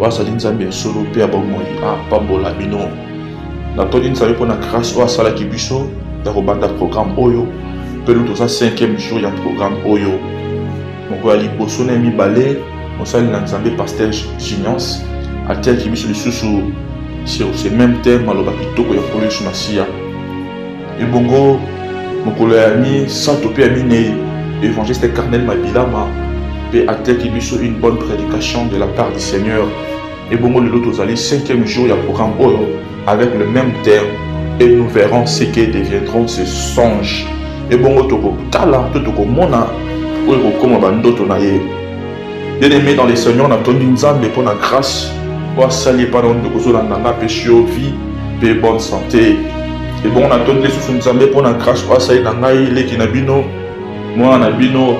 oyo azali Nzambe ya solo mpe ya bomoi apambola bino. Natondi Nzambe mpo na grâce oyo asalaki biso ya kobanda programme oyo mpe lelo toza 5e jour ya programme oyo. Mokolo ya liboso na ya mibale, mosali na Nzambe Pasteur Giniance atiaki biso lisusu sur ce même thème maloba kitoko ya Nkolo Yesu Masiya. ebongo mokolo ya misato mpe ya minei évangéliste carnel mabilama mpe ateki biso une bonne prédication de la part du seigneur ebongo lelo tozali cinquième jour ya programme oyo avec le même terme et nous verrons ce que deviendront ces songes ebongo tokotala to tokomona oyo ekokoma bandoto na ye bien aimé dans le seigneur natondi nzambe mpo na grâce oyo asali epai na ndeko ozolanda nga mpe sur vie mpe bonne santé ebongo natondi lisusu nzambe mpo na grâce oyo asali na ngai leki na bino mwana na bino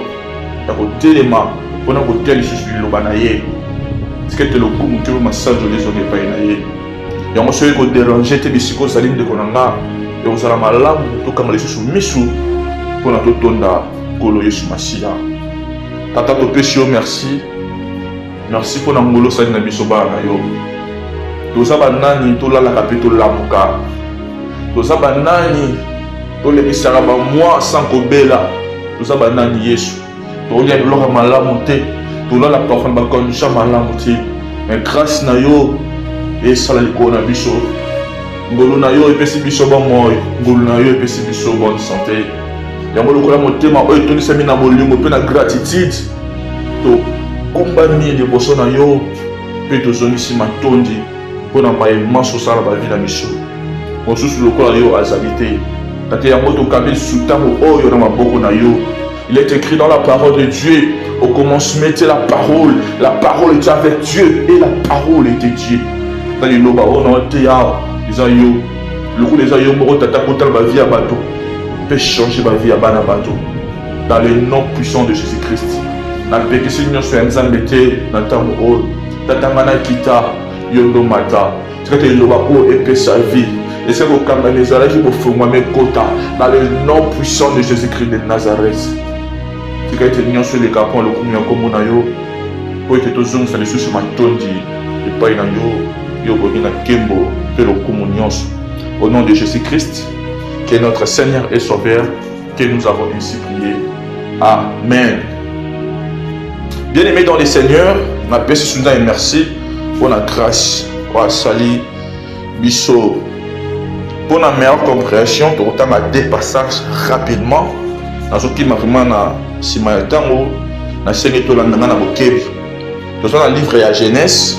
ya kotelema mpo na koteya lisusu liloba na ye tika ete lokumu mpe masanzoli ezonga epai na ye yango soki koderange te bisika ozali ndeko na nga ekozala malamu tokanga lisusu misu mpo na totonda nkolo yesu masiya Tata, topesi yo merci, merci mpo na ngolosani na biso bana na yo. Toza banani tolalaka mpe tolamuka, toza banani tolekisaka bamwa sans kobela, toza banani Yesu, tolia biloko ya malamu te, tolala parfois na bacondition malamu te, mais grâce na yo esala likolo na biso ngolu na yo epesi biso bomoi ngolu na yo epesi biso bonne sante Yango lokola motema oyo etondisami na bolingo mpe na gratitude, tokumbami liboso na yo mpe tozongisi matondi mpo na maye manso osala bavi na biso. Mosusu lokola yo azali te. Tata yango tokambi lisusu ntango oyo na maboko na yo. Il est écrit dans la parole de Dieu, au commencement était la parole, la parole était avec Dieu et la parole était Dieu. Dans les loba, on a été là, ils ont lokola eza yo moko tata kotala ba vie ya bato mpe changer ba vie ya bana bato dans le nom puissant de jésus christ na mpekisi nyonso ya nzambe te na ntango oyo tata nga nakita yo ndomata tika te liloba oyo epesa vie ese kokangana ezalaki bofungwama ekota na le nom puissant de jésus christ de nazareth tika ete nyonso eleka mpo lokumu ya nkombo na yo mpo ete tozongisa lisusu matondi epai na yo Yo boni na kembo pe lokumu nyonso. Au nom de Jésus-Christ, qui est notre Seigneur et Sauveur, que nous avons ainsi prié. Amen. Bien-aimé dans le Seigneur, na pesi souda et merci pour la grâce wa sali biso pour la meilleure compréhension pour autant ma dépassage rapidement dans ce qui m'a vraiment na sima ya tango na sengi to landanga na bokebi. Dans la livre ya Genèse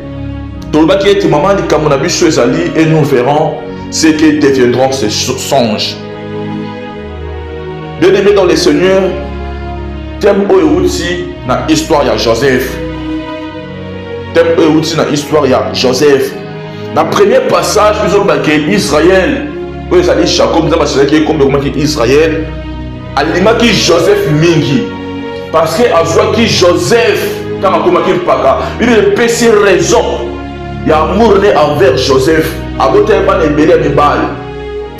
tolobaki ete mama likambo na biso ezali et nous verrons ce que deviendront ces songes bien aimé dans le seigneur thème oyo euti na histoire ya joseph thème oyo euti na histoire ya joseph na premier passage bizolobake israel oyo ezali jacob nzambe asilaki ekombe ekomaki israel Alingaki Joseph mingi parce que azwaki Joseph ntango akomaki mpaka. Biblia epesi raison ya amour ne envers Joseph. Abotaki bana ebele ya mibali,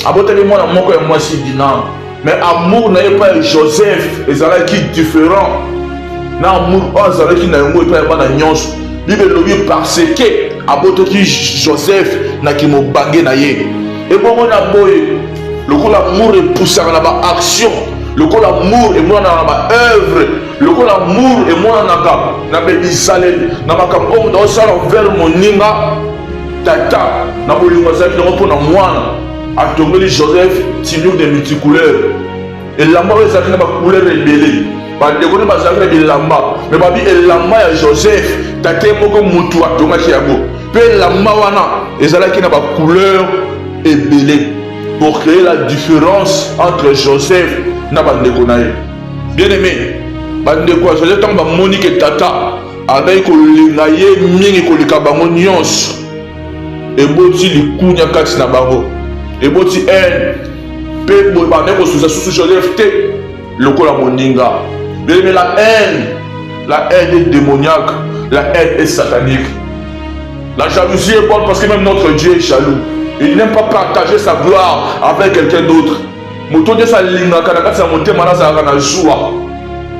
abotaki mwana moko ya mwasi Dina, mais amour na ye epai ya Joseph ezalaki different na amour oyo azalaki na yango epai ya bana nyonso. Biblia elobi parce que abotaki Joseph na kimobange na ye ebongo na boye lokola amour epusaka na baaction lokola amour emonanaka na baœuvre lokola amour emonanaka na bebizaleli na makambo oyo moto akosala vers moninga tata na bolingo azalaki nango mpo na mwana atongeli joseph tinur de multicouleur elamba oyo ezalaki na bacouleur ebele bandeko nde bazalaki na bilamba me babi elamba ya joseph tate moko motu atongaki yango Mpe elamba wana ezalaki na bacouleur ebele pour créer la différence entre Joseph na bandeko na ye. Bien aimé, bandeko ya Joseph ntango bamoni ke tata azalaki kolinga ye mingi koleka bango nyonso, eboti likunya kati na bango, eboti haine mpe boye bandaki kosusa susu Joseph te. Lokola moninga, bebe la haine, la haine est démoniaque, la haine est satanique. La jalousie est bonne parce que même notre Dieu est jaloux. Il n'aime pas partager sa gloire avec quelqu'un d'autre. moto nde esi alingaka na kati ya motema nazalaka na zuwa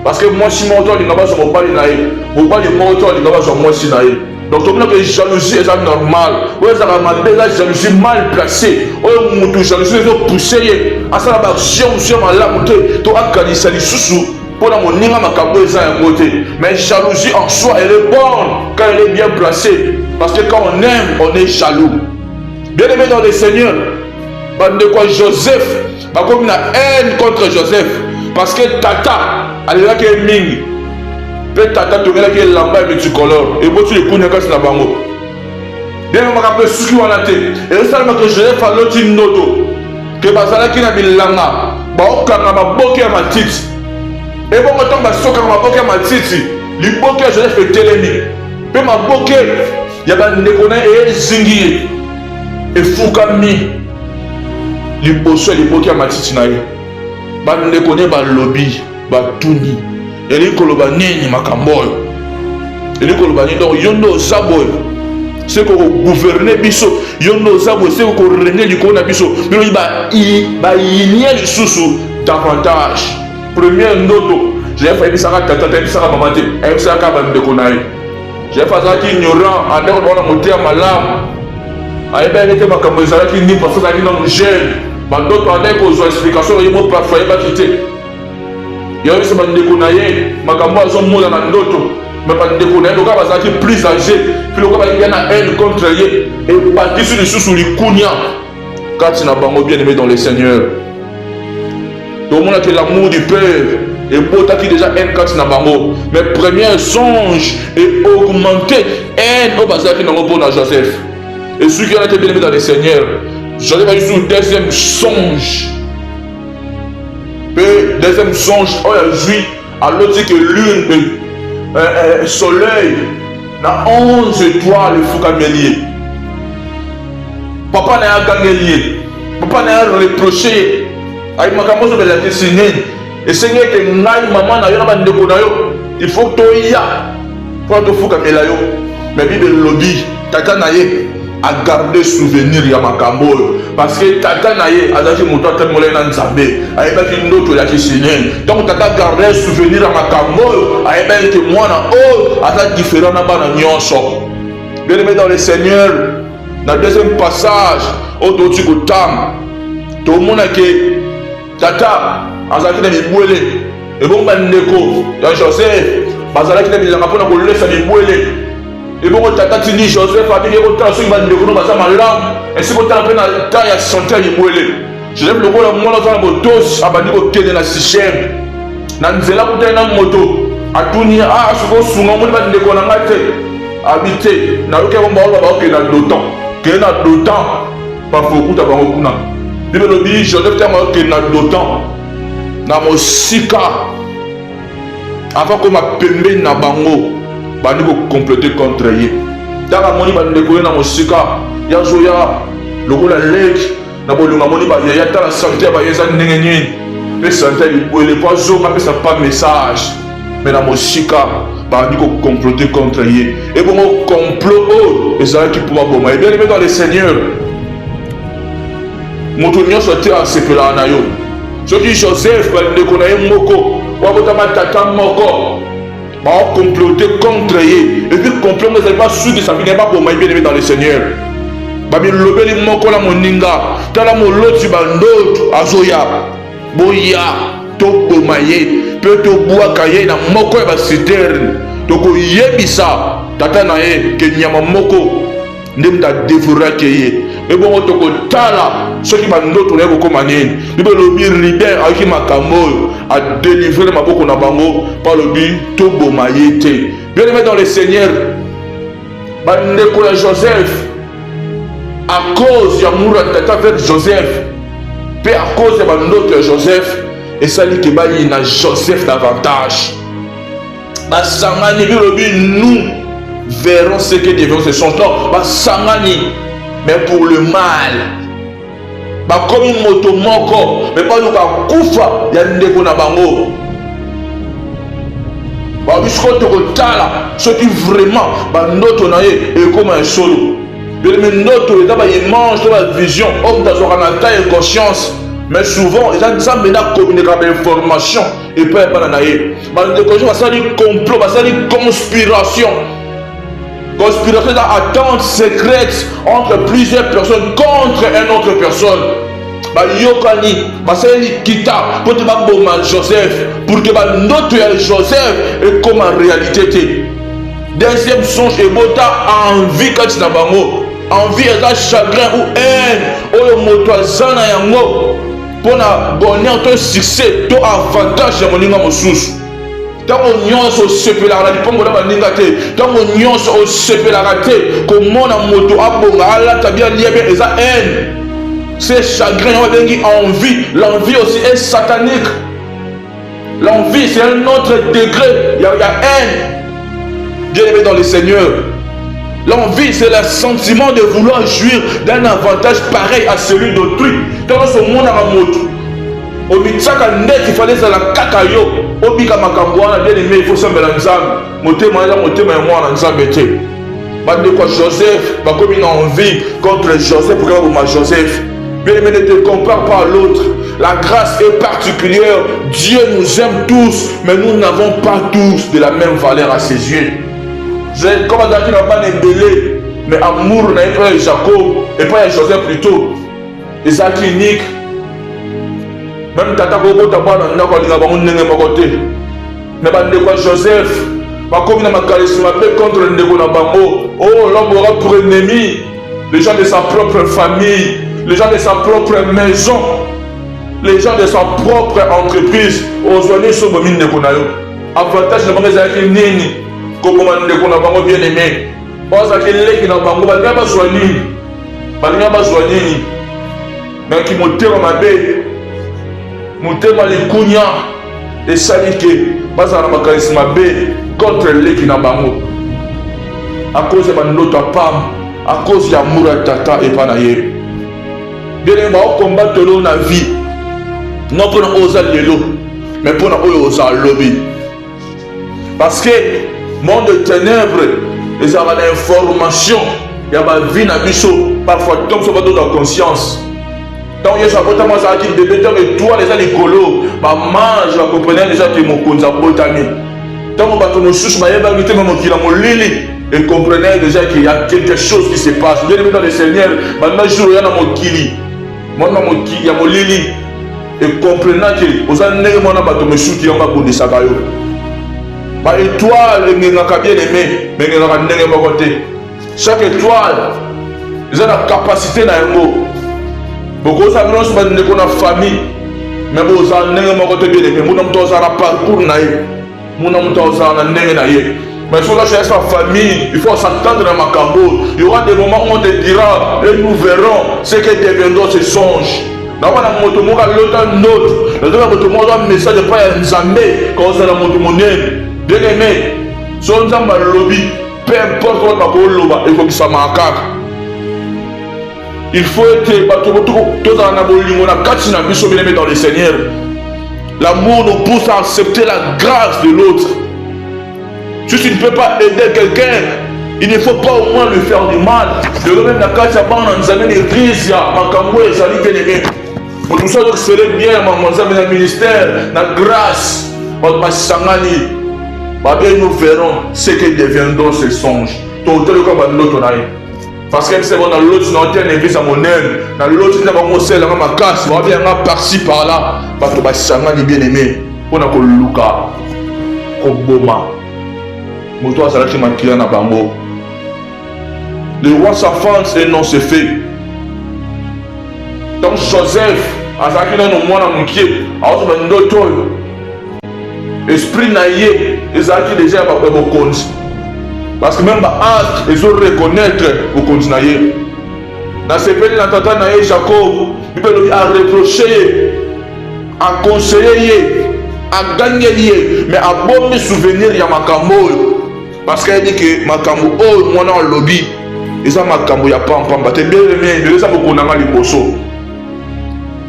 parce que mwasi moko to alinga bazwa mobali na ye mobali moko to alinga bazwa mwasi na ye donc tomona ke jalousie eza normal oyo ezalaka mabe eza jalousie mal placé oyo motu jalousie ezo pousse ye asala baaction mosusu ya malamu te to akanisa lisusu mpo na moninga makambo eza yango te mais jalousie en soi elle est bonne quand elle est bien placée parce que quand on aime on est jaloux bien aimé dans le seigneur bandeko ya joseph bakomi na haine contre joseph parce que tata alelaki ye mingi mpe tata tongelaki elamba ya multicolore eboti likunia kati na bango ndenge makambo esuki wana te ezosalama ke joseph aloti ndoto ke bazalaki na bilanga baokanga maboke ya matiti ebongo ntango basokaka maboke ya matiti liboke ya joseph etelemi mpe maboke ya bandeko na ye ezingi ye efukami liboso ya liboki ya matiti na ye bandeko ne balobi batuni elingi koloba nini makambo oyo elingi koloba nini donc yo nde oza boye seko kogouverne biso yo nde oza boye seko korene likolo na biso bilobi bayinie lisusu davantage première ndoto jeff ayebisaka tata te ayebisaka mama te ayebisaka bandeko na ye Jeff azalaki ignorant ata ko bana moteya malamu ayebaki te makambo ezalaki nini parce azalaki nano jeune bandoto andaki kozwa explication na ye mo parfo ayebaki te yayebisa bandeko na ye makambo azomona na ndoto me bandeko na ye lokola bazalaki plus age mpe lokola bayebi na haine contre ye ebakisi lisusu likunia kati na bango bien aimé dans le seigneur tomonaki l'amour du père ebotaki déjà haine kati na bango mais premier songe e augmente haine oyo bazalaki nango mpo na joseph esuki wana te bien aimé dans le seigneur joseph ayaki sur deuxième songe mpe deuxième songe oyo azwi aloti ke lune mpe eh, eh, soleil na 11 etoile efukameli ye papa na ye agangeli ye papa na ye areproche ye ayi makambo ozo belakisi nini esengi ete ngai mama na yo na bandeko na yo il faut toya Pona tofukamela yo mais bible elobi tata na ye agarde souvenir ya makambo oyo parceke tata na ye azalaki moto atambolaki na nzambe ayebaki ndoto ya kisenye ntango tata agarde souvenir ya makambo oyo ayebaki ete mwana oyo aza diferent na bana nyonso bien aimé dans le seigneur na deuxième passage oyo touti kotanga tomona ke Tata azalaki na bibwele, ebongo bandeko ya Joseph bazalaki na bilanga mpo na kolesa bibwele. Ebongo tata atindi Joseph abiki ye kotala soki bandeko no baza malamu, esi kotala mpe na ta ya sante ya bibwele. Joseph lokola mwana aza na botosi, abandi kokende na Sichem. Na nzela akutani na moto, atuni ye, ah, soki osunga omoni bandeko na ngai te? Abi te, nayoki yango baoyo baokende na Dotan. Kende na Dotan Parfois okuta bango kuna. Bible elobi Joseph ntango ayokeli na Dotan na mosika avant koma pembeni na bango bandi kokomplete contre ye ntango amoni bandeko ye na mosika yazoya lokola leki na bolingo amoni baye yatala sante ya baye eza ndenge nini mpe sante ya libwele mpo azonga apesa mpa message me na mosika babandi kocomplote contre ye ebongo complot oyo ezalaki mpo baboma ye bien dans le seigneur moto nyonso te asepelaka na yo soki joseph bandeko na ye moko babotama tata moko baocomplote contre ye epuis complot ngo ezali basukisa bino ye baboma ye bien dans le seigneur babilobeli moko na moninga tala moloti bandoto azoya boya toboma ye mpe tobwaka ye na moko ya basiterne tokoyebisa tata na ye ke nyama moko nde moto adevoraki ye mpe bongo tokotala soki bandoto na ye kokoma nini bibe elobi rider ayoki makambo oyo adelivre na maboko na bango mpo alobi toboma ye te bien aime dans le seigneur bandeko ya joseph a cause ya mura tata vere joseph mpe a cause ya bandoto ya joseph esali ke bayina joseph davantage basangani bilobi nous verrons ce que devions ce sont non basangani mais pour le mal bakomi moto moko me baluka kufa ya ndeko na bango babi siko tokotala soki vraiment bandoto na ye ekoma ya solo beleme ndoto eza baimage to bavision oyo moto azwaka na ta inconscience mais souvent eza nzambe nde akomineka bainformation epai ya bana na ye bandeko basali complot basali conspiration Conspiration eza attente secrète entre plusieurs personnes contre une autre personne. bayokani basali likita mpo te baboma joseph pour ke bandoto ya joseph ekoma réalité te deuxième songe ebota envie kati na bango envie eza chagrin ou haine oyo moto aza na yango mpo na bonheur to succès to avantage ya moninga mosusu ntango nyonso osepelaka na lipango na baninga te ntango nyonso osepelaka te komona moto abonga alata bia lia bia eza haine se chagrin yango babengi envie l'envie aussi est satanique l'envie c'est un autre degré ya, ya haine bien aimé dans le seigneur L'envie, c'est le sentiment de vouloir jouir d'un avantage pareil à celui d'autrui. Dans ce monde, à la moto, omitisaka ndeti fale ezala kaka yo obika makambo wana bien aime ifo osambela nzambe motema eza motema ya mwana nzambe te bandeko ya joseph bakomi na envie contre joseph okoki baboma joseph bien aime ne te compare pas à l'autre la grâce est particulière dieu nous aime tous mais nous n'avons pas tous de la même valeur à ses yeux comme azalaki na bana ebele mais amour na ye epai ya jacob epai ya joseph plutôt eza clinique meme tata kokota bana ndako alinga bango ndenge moko te na bandeko ya joseph bakomi na makanisi mabe contre ndeko na bango o oh, l'homme aura pour ennemi les gens de sa propre famille les gens de sa propre maison les gens de sa propre entreprise ozwa nyonso obomi ndeko na yo avantage na bango ezalaki nini koboma ndeko na bango bien aimé Oyo azalaki leki na bango, balinga bazwa nini? Balinga bazwa nini? Na kimotema mabe, motema likunya esali ke bazala na makanisi mabe contre leki na bango, a cause ya bandoto ya pamba, a cause ya amour ya tata epa na ye. Bien baokombate lo na vie, non mpo na oyo oza lelo, mais mpo na oyo oza lobi. Parce que monde de ténèbres ezalaka na information ya bavi na biso parfois ntango biso bato na conscience ntango yesu abotama azalaki bebe ntango etwale eza likolo bamage bakomprenaki deja te mokonzi abotami ntango bato mosusu bayebaki te me mokili ya molili ekomprenaki deja ke ya quelque chose qui se passe bien ebeta le seigneur banda jour oya na mokili mwana mokili ya molili ekomprena ke oza ndenge mwana bato mosuki yango abundisaka yo ba etoile engengaka bien aime me engengaka ndenge moko te chaque etoile eza na kapasite na yango bokoza nyonso bandeko na famille me boza ndenge moko te bien aime muna moto ozala parcours na ye mona moto azala na ndenge na ye mais soki oza sa famille il faut s'attendre na makambo il y aura des moments où on te dira et nous verrons ce que deviendront ces songes nakomona moto moko alota ndoto nazala moto moko azwa message epai ya nzambe kozala moto monene deneme so nzambe alobi peu importe oyo bakoloba ekokisamaka kaka Il faut ete bato tozala na bolingo na kati na biso bien-aimé dans le Seigneur. L'amour nous pousse à accepter la grâce de l'autre. Si tu ne peux pas aider quelqu'un, il ne faut pas au moins lui faire du mal. lelo meme na kati ya bana nzambe na eglise ya makambo ezali bien-aimé. Moto mosusu azokisele bien ya makambo nzambe na ministère na grâce bato basangani babe nous verrons ce que deviendront ces songes tokoteleka bandoto na ye parce que biso na loti na ote na eglise ya monene na loti ntina bango osalelanga makasi bawabi yanga parci par là bato basangani bien aimé mpo na koluka koboma moto azalaki makila na bango le roi sa france et non se fait donc joseph azalaki nano mwana moke aozoba ndoto oyo esprit na ye ezalaki deja ya bato ya bokonzi parce que meme baange ezo reconnaître bokonzi na ye nasepeli na tata na ye jacob bible elobi areproche ye akonseye ye agangeli ye mais abomi souvenir ya makambo oyo parce que ayebi ke makambo oyo mwana alobi eza makambo ya pampamba te bielemie eza bokonanga liboso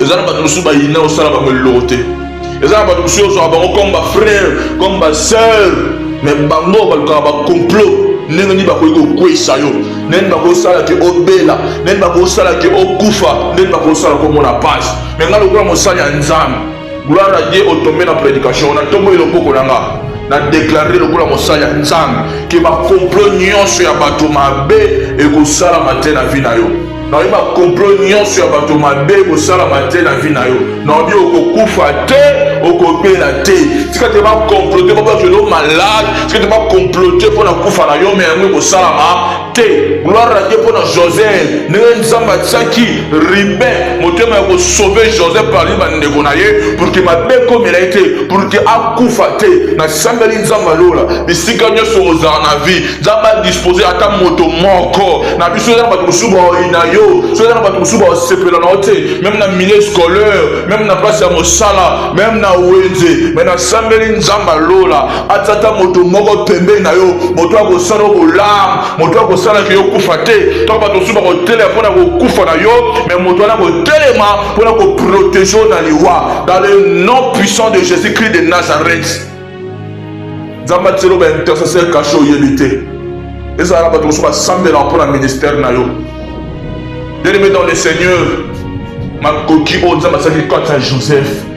eza na bato mosusu bayina osala bango eloko te eza na bato mosusu ozwaka bango comme bafrère comme basœur mais bango balukaka bacomplot ndenge nini bakoki kokweyisa yo ndenge nini bakosala ke obela ndenge nini bakosala ke okufa ndenge nini bakosala komona pasi me ngai lokola mosali ya nzambe Gloire à Dieu, otombe na predication, na tombo eloboko na nga. Na déclarer lokola mosali ya Nzambe que ba complot nyonso ya bato mabe ekosalama te na vie na yo. naobi bakomplot nyonso ya bato mabe ekosalama te na vi na yo naobi okokufa te okobela te tika te bakomplote babato elo malade tika te bakomplote mpo na kufa na yo me yango ekosalama te gloire na dieu mpo na joseph ndenge nzambe atiaki ribin motema ya kosauve joseph parmi bandeko na ye pour ke mabe ekomela ye te pour ke akufa te nasambeli nzambe alola bisika nyonso ozala na vie nzambe adispose ata moto moko na biso eza na bato mosusu baoyina yo so eza na bato mosusu baosepela na yo te meme na milieu scolaire meme na place ya mosala meme na wenze me nasambeli nzambe alola atata moto moko pembeni na yo moto akosala bolamu moto akosalaki yo kufa te to bato mosusu bakotelema mpo na kokufa na yo me moto wana kotelema mpo na koprotege yo na liwa dans le nom puissant de jésus christ de nazareth nzambe atiselo baintercesseur kashe oyebi te ezala na bato mosusu basambelaka mpo na ministère na yo bien aimé dans le seigneur makoki oyo nzambe asalaki kati ya joseph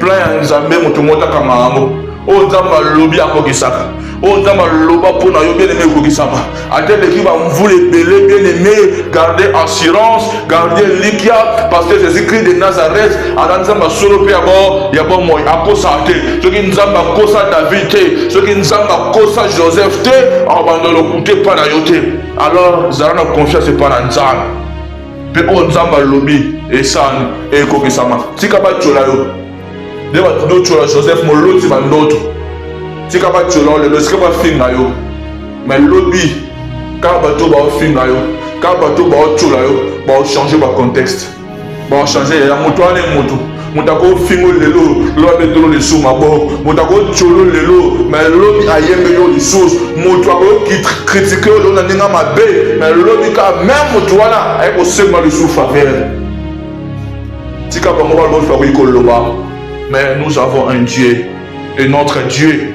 Plan ya Nzambe moto moko akanga yango. Oyo Nzambe alobi akokisaka. Oyo Nzambe aloba mpo na yo bien aimé ekokisama. Ata eleki ba mvula ebele bien aimé, garde assurance, garde likia parce que Jésus-Christ de Nazareth aza Nzambe ya solo mpe ya bo ya bomoi akosa te. Soki Nzambe akosa David te, soki Nzambe akosa Joseph te, akobanda lokute epai na yo te. Alors zala na confiance epai na Nzambe. mpe oyo nzambe alobi esani ekokisama tika batyola yo nde bato dotyola joseph moloti bandoto tika batyola yo lelo esika bafinga yo me lobi kaka bato baofinga yo kaka bato baotyola yo baochange bacontexte baochange ya moto wana ye moto moto akofingo lelo lobi abetolo lisusu maboko moto akotyolo lelo me lobi ayembe yo lisusu moto akokritike yo lelo na ndenge mabe me lobi ka meme moto wana aye kosenga lisusu faveur tika bango balobi bakoki koloba mais nous avons un dieu et notre dieu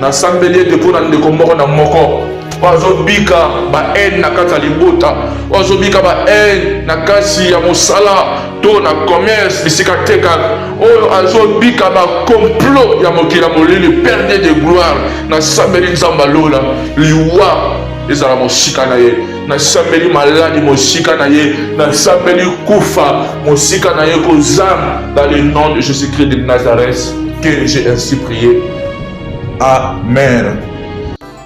Nasambeli ete mpo na ndeko moko na moko oyo azobika bahaine na kati ya libota, oyo azobika bahaine na kati ya mosala to na commerce bisika tekaka, oyo azobika bakomplot ya mokili ya molili, perde de gloire. Nasambeli Nzambe alola liwa ezala mosika na ye. nasambeli maladi mosika na ye nasambeli kufa mosika na ye kozanga dans le nom de jésus christ de nazareth que j'ai ainsi prié amen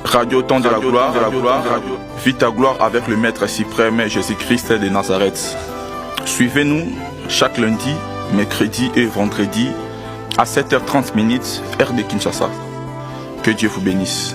radio temps de la gloire, de la gloire radio. vis ta gloire avec le maître suprême jésus christ de nazareth suivez nous chaque lundi mercredi et vendredi à 7h30 minutes heure de kinshasa que dieu vous bénisse